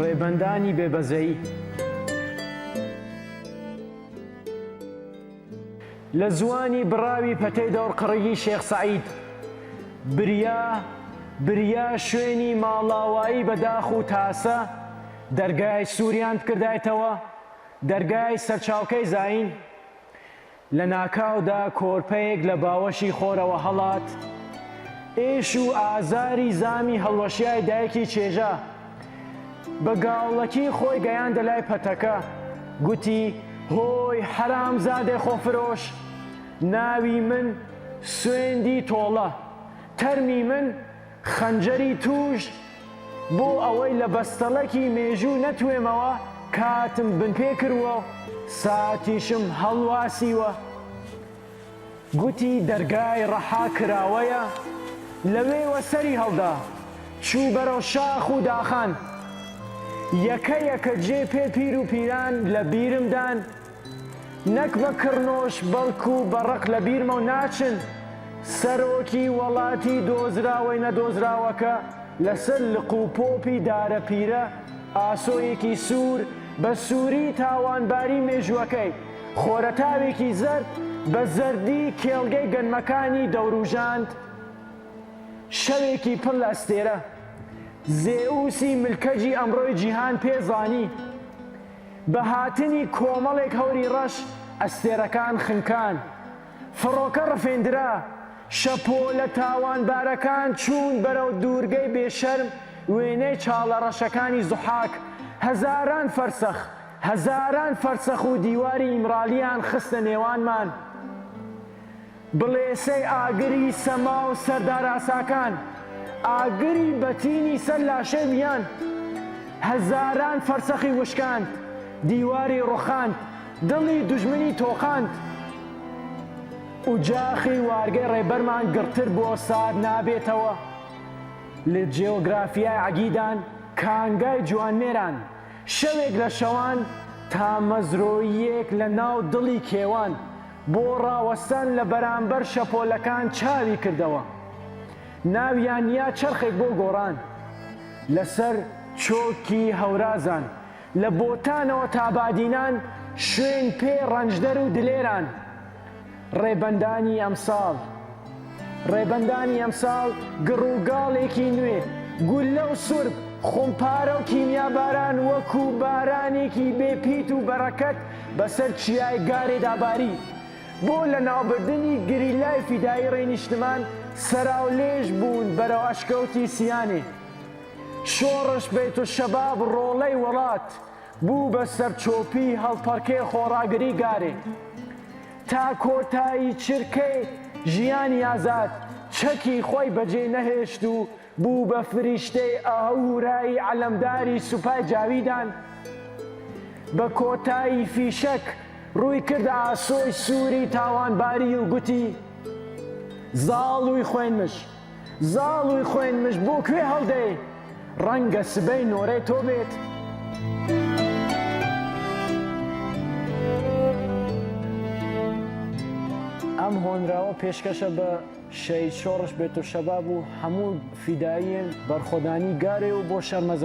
ڕێبەندانی بێ بەزەیی لە زوانی بڕاوی پەتەی دەوڕقڕگی شێخ سەعید بریا بریا شوێنی ماڵاوایی بە داخ و تاسە دەرگای سووریان بکردایتەوە دەرگای سەرچاوکەی زین لە ناکاودا کۆرپەیەک لە باوەشی خۆرەوە هەڵات، ئێش و ئازاری زامی هەڵوەشیای دایکی چێژا. بە گاڵڵەکی خۆی گەیاندە لای پەتەکە، گوتی، هۆی حەرامزادەی خۆفرۆش! ناوی من سوێندی تۆڵە، تەرمی من، خەنجەری تووش بۆ ئەوەی لە بەستەڵەکی مێژوو نەتوێمەوە کاتم بن پێ کرووە و ساتیشم هەڵواسیوە گوتی دەرگای ڕەحا کراوەیە لەوێوە سەری هەڵدا چوو بەرەو شاخ و داخان یەکە یەکە جێ پێ پیر و پیران لە بیرم دان نەک بە کڕنۆش بەڵکو بە ڕق لە بیرمەو ناچن سەرۆکی وەڵاتی دۆزراوەی نەدۆزراوەکە لە سەر لق و پۆپی دارەپیرە ئاسۆیەکی سوور بە سووری تاوانباری مێژووەکەی خۆرەتاوێکی زەرد بە زەردی کێڵگەی گەنمەکانی دەوروژاند شەوێکی پڕ لە ئەستێرە زێئوسی ملکەجی ئەمڕۆی جیهان پێ زانی بە هاتنی کۆمەڵێک هەوری ڕەش ئەستێرەکان خنکان، فڕۆکە ڕفێندرا، شەپۆلە تاوانبارەکان چوون بەرەو دوورگەی بێشەرم وێنەی چاڵە ڕەشەکانی زوحاک هەزاران فەرسەخ هەزاران فەرسەخ و دیواری ئیمرالییان خستە نێوانمان، بڵێسەی ئاگری سەما و سەرداراساکان، ئاگری بەتینی سەر لاشەی میان، هەزاران فەرسەخی وشکاند، دیواری ڕوخاند، دڵی دوژمنی تۆقاند. ئوجاخی وارگەی ڕێبەرمان گڕتر بۆ سارد نابێتەوە. لە جیۆگرافیای عەگیدان، کانگای جوانمێران، شەوێک لە شەوان، تامەزرۆییەک لە ناو دڵی کێوان، بۆ ڕاوەستان لە بەرامبەر شەپۆلەکان چاوی کردەوە، ناویان یا چەرخێک بۆ گۆڕان لەسەر چۆکی هەورازان، لە بۆتانەوە تا بادینان، شوێن پێ ڕەنجدەر و دلێران، ڕێبەندانی ئەمساڵ. ڕێبەندانی ئەمساڵ گڕ و گاڵێکی نوێ، گوللە و سورپ، خومپارە و کیمیاباران وەکو بارانێکی بێ پیت و بەرەکەت بەسەر چیای گارێدا باری. بۆ لەناوبردنی گریلای فیدایی ڕێی نیشتمان سەراولێژ بوون بەرەو ئەشکەوتی سیانێ. شۆڕش بەیتولشەباب ڕۆڵەی وەڵات بوو بە سەرچۆپی هەڵپەڕکێ خۆڕاگری گارێ. تا کۆتایی چرکەی ژیانی ئازاد چەکی خۆی بەجێ نەهێشت و بوو بە فریشتەی ئاهورایی عەلەمداری سوپای جاویدان، بە کۆتایی فیشەک ڕووی کردە ئاسۆی سووری تاوانباری و گوتی، زاڵووی خوێنمژ! زاڵووی خوێن مژ بۆ کوێ هەڵدێی ڕەنگە سبەی نۆرەی تۆ بێت. ئەم هۆنراوە پێشکەشە بە شەهید شۆڕش بێتوشەباب و هەموو فیداییەن بەرخۆدانی گارێ و بۆ شەرمەزاری